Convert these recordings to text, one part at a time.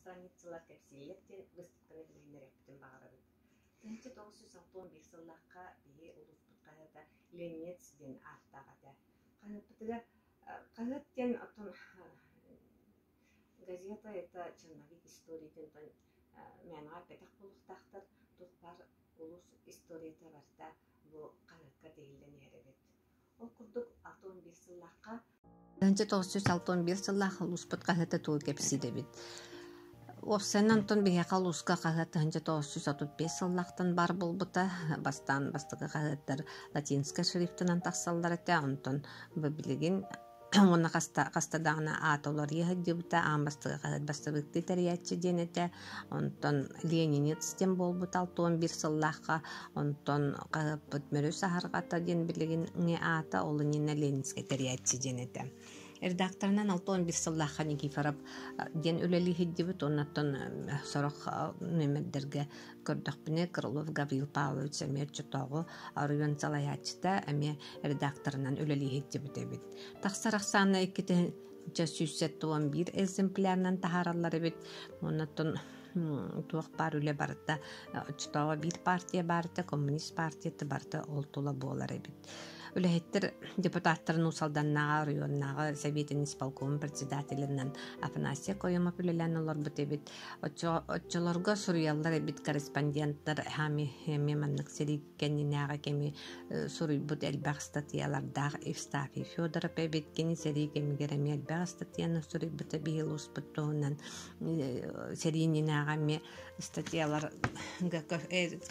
Страницалар кэпсииллэр диэн быыстапканы билиннэриэхпитин баҕарабыт. Тыһыынча тоҕус жүз алпыс биир сыллахха биһи улууспут хаһыата Ленец диэн ааттаах этэ. Хаһыаппытыгар хаһыат диэн оттон газета это черновик историятын тон мээнэҕэ эппэтэх буолуохтаахтар туспар улус историята барта бу хаһыатка тиһиллэн иһэр эбит. Ол курдук 61 сыллаахха Данча тоҕусчус алтан биир сыллаах улууспут хаһыата тугу кэпсиидэбит. Уопсайынан Антон биһиэхэ улууска хаһыат тыһынча тоғыз жүз отут бес сыллаахтан бар булбута. Бастаан бастакы хаһыаттар латинскай шрифтынан тахсаллар этэ. Онтон бу билигин уонна хаста хаста даҕаны аата уларыйа сылдьыбыта аан бастакы бастабыыктыы тэрийээччи диэн этэ онтон ленинец диэн буолбут алтон биир сыллаахха онтон хаһыаппыт мөрү саһарҕата диэн билигин аата ол иннинэ ленинскэй тэрийээччи диэн этэ редакторынан алтон бир сыллаахха никифоров диэн үлэлии сылдьыбыт оннаттан сорох нөмердерге көрдөхпүнэ Крылов Гаврил Павлович эмиэ оччотооҕу оройуон салайааччыта эмиэ редакторынан үлэлии сылдьыбыт эбит. Тахсар ахсаана иккитинчэ сүүс сэттэ уон биир экземплярынан таһаараллар эбит. Оннуттан туох баар үлэ барыта оччотооҕу биир партия баарыта коммунист партията барыта ол тула буолар эбит үлэһиттэр депутаттарын уусалданнааҕы оройуоннааҕы сэбиэтин исполкомун председателинэн Афанасия Коемов үлэлээн олорбут эбит Оччолорго суруйаллар эбит корреспонденттар эми маннык сири кэннинээҕи кэми суруйбут элбэх ыстатыйалардаах Евстафий Федоров эбит кини сэрии кэмигэр эми элбэх ыстатыйаны суруйбута биһил успут туһунан сэриининээҕи эми ыстатыйаларга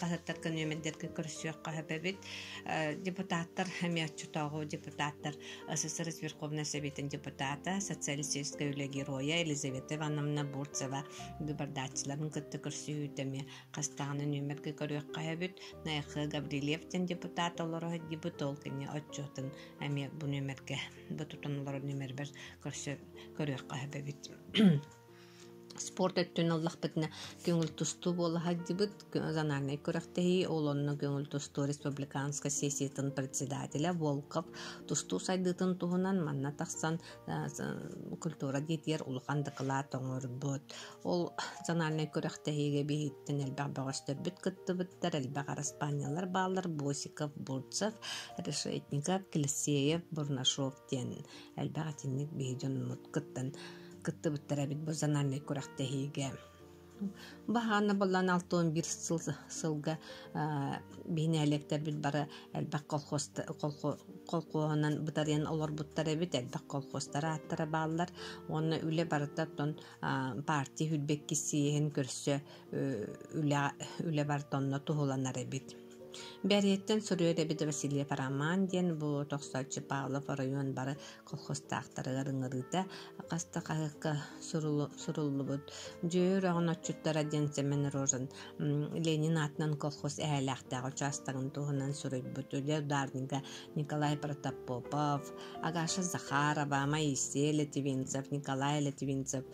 хаһыаттарга нүөмэрдэргэ көрсүөх хаһап эбит депутаттар эми оччотооҕу депутаттар СССР Верховной Советин депутата, социалистическай үлэ геройа Елизавета Ивановна Бурцева гыбардааччыларын кытта көрсүһүүтэми хастаҕына нүөмэргэ көрүөххэ эбит. Найхы Гаврильев ден депутат олороһыт депутол кини отчетын эми бу нүөмэргэ бу тутан олорор нүөмэрбэр көрсө көрүөххэ эбит. спорт өттүн ыллахпытына көҥүл тустуу буола сылдьыбыт зональнай күрэхтэһии ол онно көҥүл тустуу республиканскай сессиятын председателэ волков тустуу сайдыытын туһунан манна тахсан культура диэтигэр улахан дакылаат оҥорбут ол зональнай күрэхтэһиигэ биһиттэн элбэх бөҕөстөрбүт кыттыбыттар элбэх араспаанньалар бааллар босиков бурцев решетников клессеев бурнашов диэн элбэх итинник биһи дьонмут кыттан кыттыбыттар эбит бу зональнай күрэхтэһиигэ баһаана боллон алта уон биир сыл сылга биһинээлиэктэрбит бары элбэх колхоз колхоһунан бытарыйан олорбуттар эбит элбэх колхозтар ааттара бааллар уонна үлэ барыта оттон партия хүрбэккиссийэһин көрсө үлэ үлэ барыта онно туһуланар эбит Бэриеттен суруйар эбит Василий Параман диэн бу тохсооччу Павлов оройуон бары колхозтаахтарыгар ыҥырыыта хас да хаһыакка суруллубут Дьүө үрэҕин отчуттара диэн Семен Рожин Ленин аатынан колхоз эһээлээхтээх учаастагын туһунан суруйбут үлэ ударнига Николай Протопопов, Агаша Захарова, Моисей Летвинцев, Николай Летвинцев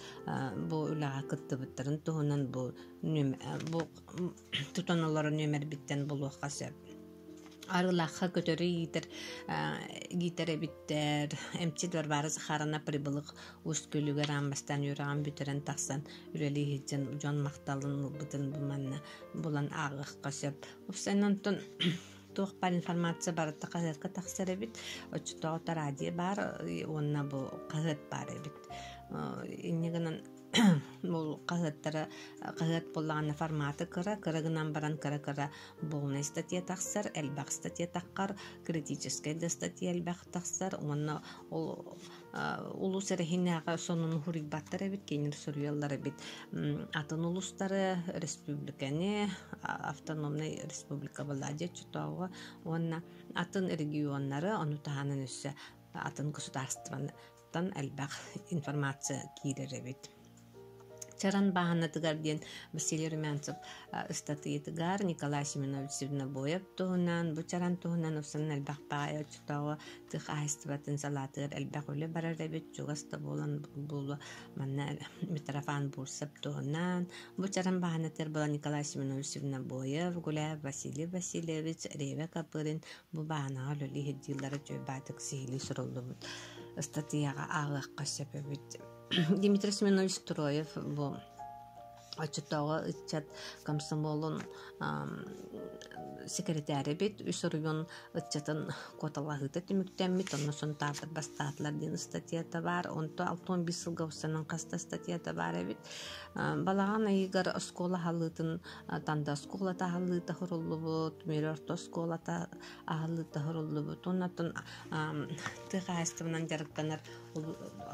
бу үлэҕэ кыттыбыттарын туһунан бу бу тутан олорон нүөмэрбиттэн булуохха сөп Арылахха көтөрү иитэр иитэр эбиттэр эмчит Варвара Захаровна прибылык ус күлүгэр аан бастаан үөрэҕин бүтэрэн тахсан үлэлии сылдьан дьон махталын ылбытын бу манна булан ааҕыахха сөп. Упсан онтон туох бар информация барыта хаһыатка тахсар эбит оччотоҕута радио баар уонна бу хаһыат баар эбит инньэ гынан бұл хаһыаттары хаһыат буллаҕына форматы кыра кыра гынан баран кыра кыра Полнай статья тахсар, элбэх статья таххар, критическэй да статья элбэх тахсар уонна ол улус эрэһинээҕэ сонун хуруйбаттар эбит кинилэр суруйаллар эбит атын улустары республиканы автономный республика была чотооҕо уонна атын регионнары ону таһынан өссө атын государствоны Оттон элбэх информация киирэр эбит. Чаран бааһынатыгар диэн Василий Румянцев ыстатыйатыгар Николай Семенович Сирнобоев туһунан бу чаран туһунан ufсан элбэх таайа оччотооҕу тых аһыстыбатын салаатыгар элбэх үлэ барар эбит чугас да буолан буолуо манна Митрофан Бурсов туһунан бу чаран бааһынатыгар была Николай Семенович Сирнобоев Гуляев Василий Васильевич Реве Копырин Бу бааһынаҕа үлэлии сылдьыылара үчүгэй баатык сиһилии суруллубут. Ыстатыйаҕа ааҕыахха сөп эбит. Дмитрий Сминович Строев бу оччотооҕу ыччат комсомолун секретарь эбит, үс оройун ыччатын куоталаһыыта түмүктэммит, онно Сунтаартар бастаатылар диэн ыстатыйата баар. Онто алтон бис сылга устанан хаста ыстатыйата баар эбит. Балаҕан айыгар оскуола халыытын Танда оскуолата аһыллыыта хуруллубут, Мүлө орто оскуолата аһыллыыта хуруллубут уонна оттон тыа хаһаайыстыбанан дьарыктанар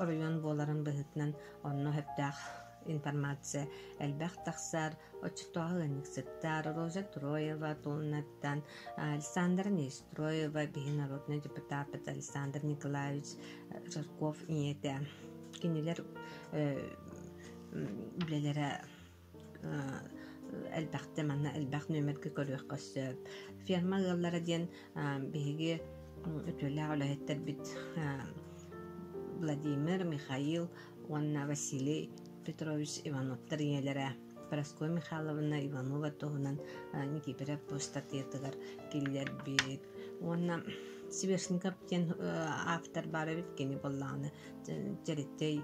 оройуон буоларын быһыытынан онно сөптөөх информация элбэх тахсар. Оччотооҕу ыанньыксыттар Роза Троева тууннаттан Александра Нестроева биһи народный депутапыт Александр Николаевич Жарков ийэтэ кинилэр үлэлэрэ элбэхтэ манна элбэх нүөмэргэ көрүөххэ сөп. Ферма ыаллара диэн биһиги үтүөлээх үлэһиттэрбит Владимир, Михаил уонна Василий Петрович Ивановтар ийэлэрэ Парасковья Михайловна Иванова туһунан Никифоров ыстатыйатыгар киллэрбит. Уонна Сверстников диэн автор баар эбит кини буоллаҕына Дьэрэтэй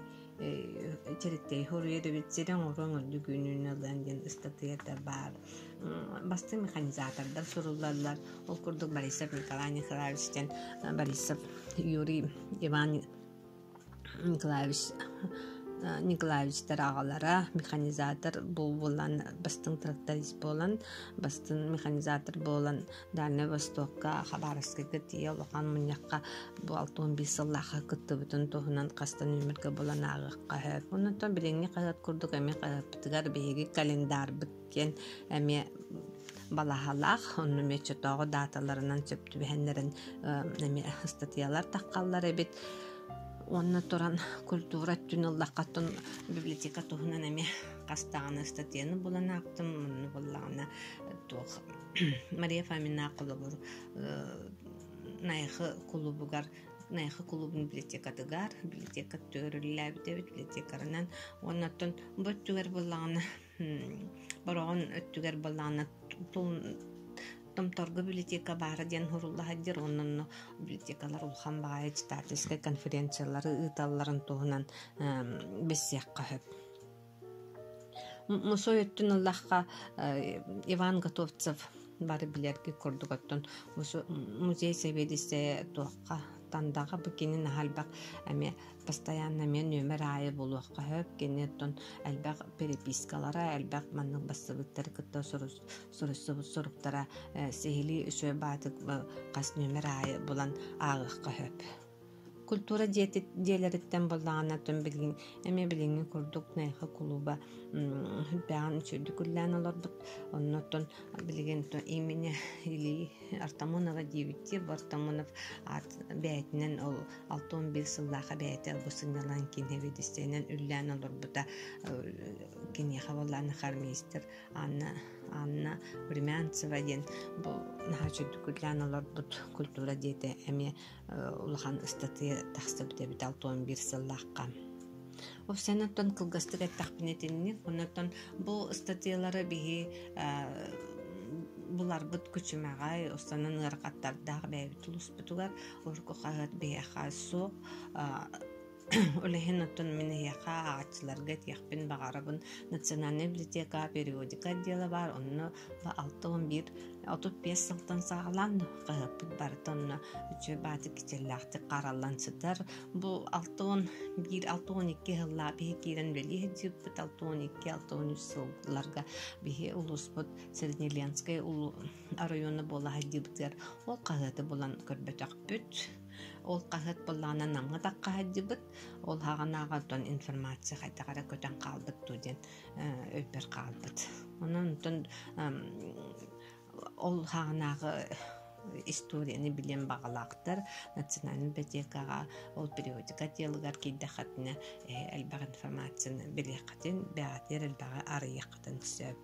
Чэриктэй хоруйадыбит сири оҥоруон ордук үүнүүнүллэн диэн ыстатыйата баар. Басты механизатордар суруллаллар. Ол курдук Борисов Николай Николаевич диэн Борисов Юрий Иван Николаевич Николаевичтар аҕалара механизатор буолан бастыҥ тракторист буолан бастыҥ механизатор буолан Дальнай Востокка, Хабаровскайга тиийэ улахан мунньахха бу алта уон биис сыллаахха кыттыбытын туһунан хаста нүөмэргэ булан ааҕыахха сөп. Оннуттан билиҥҥи хаһыат курдук эми хаһыаппытыгар биһиги календарбыт диэн эмиэ балаһалаах онно мечетооҕу дааталарынан сөп түбэһэннэрин эмиэ ыстатыйалар таххаллар эбит уонна туран культура түн ыллаххаттан библиотека туһунан эмиэ хастаҕына ыстатыйаны булан аахтым мунну буллаҕына туох Мария Фомина холобур Найхы кулубугар Найхы кулубун библиотекатыгар библиотека төрүллээбит эбит библиотекарынан оннуттан бу өттүгэр буллаҕына бороҕон өттүгэр буллаҕына Томторго библиотека баара диэн суруллаһаддыр оннонно библиотекалар улахан баҕайы читательскай конференциялары ыыталларын туһунан билсиэххэ сөп Мусуой өттүн ыллахха Иван Готовцев бары билэргит курдук оттон музей сэбиэдиссэйэ туохха тандаҕа бу кини наһаа эмиэ постоянно эмиэ нүөмэр аайы булуохха сөп кини оттон элбэх перепискалара элбэх маннык бастыбыттары кытта суруйсубут суруктара сиһилии үчүгэй баатык хас нүөмэр аайы булан ааҕыахха сөп Культура дьиэлэриттэн буоллаҕына тон билигин эмиэ билиҥҥи курдук найха кулуба үрдээҕин үчүгэйдик үллээн олордук оннуттан билигин имени Ильи Артамонова диэбиттии бу Артамонов аат бэйэтинэн ол алта уон биир сыллаах бэйэтэ бу сынньалаҥ киин сэбиэдиссэйинэн үллээн олорбута киниэхэ буоллаан хармейстер Анна Анна Времянцева диэн бу наһаа үчүгэйдик үллээн олорбут культура дьиэтэ эмиэ улахан ыстатыйа тахсыбыт эбит алта уон биир сыллаахха. Ол сен оттон кылгастык эттэхпинэ итинник, оннотон бу ыстатыйалары биһи буларбыт күчүмэҕэй, останын ыарахаттардаах бэйэбит улуспутугар, урукку хаһыат биһиэхэ суох, Ол иһин оттон мин эһиэхэ ааҕаччыларга этиэхпин баҕарабын. Национальная библиотека периодика отдела баар, онно алта уон биир отут биэс сылтан саҕалаан хаһыаппыт барыта онно үчүгэй баатык кичэллээхтик хараллан сытар. Бу алта уон биир, алта уон икки сыллаа биһи киирэн үлэлии сылдьыппыт алта уон икки, алта уон үс сылларга биһи улууспут Среднеленскэй оройуона буола сылдьыыбытыгар ол хаһыаты булан көрбөтөхпүт. Ол хаһыат былаанынан намҥа таххаһайдыбыт. Ол хаганааҕа оттон информация хайдах эрэ көтөн хаалбыт дуу диэн өйбөр хаалбыт. Онон оттон ол хаанааҕы историяны билиэн баҕалаахтар национальнай библиотекаҕа ол периодика диалыгар киирдэххитинэ элбэх информацияны билиэххитин бэҕэтиэр элбэҕи арыйыаххытын сөп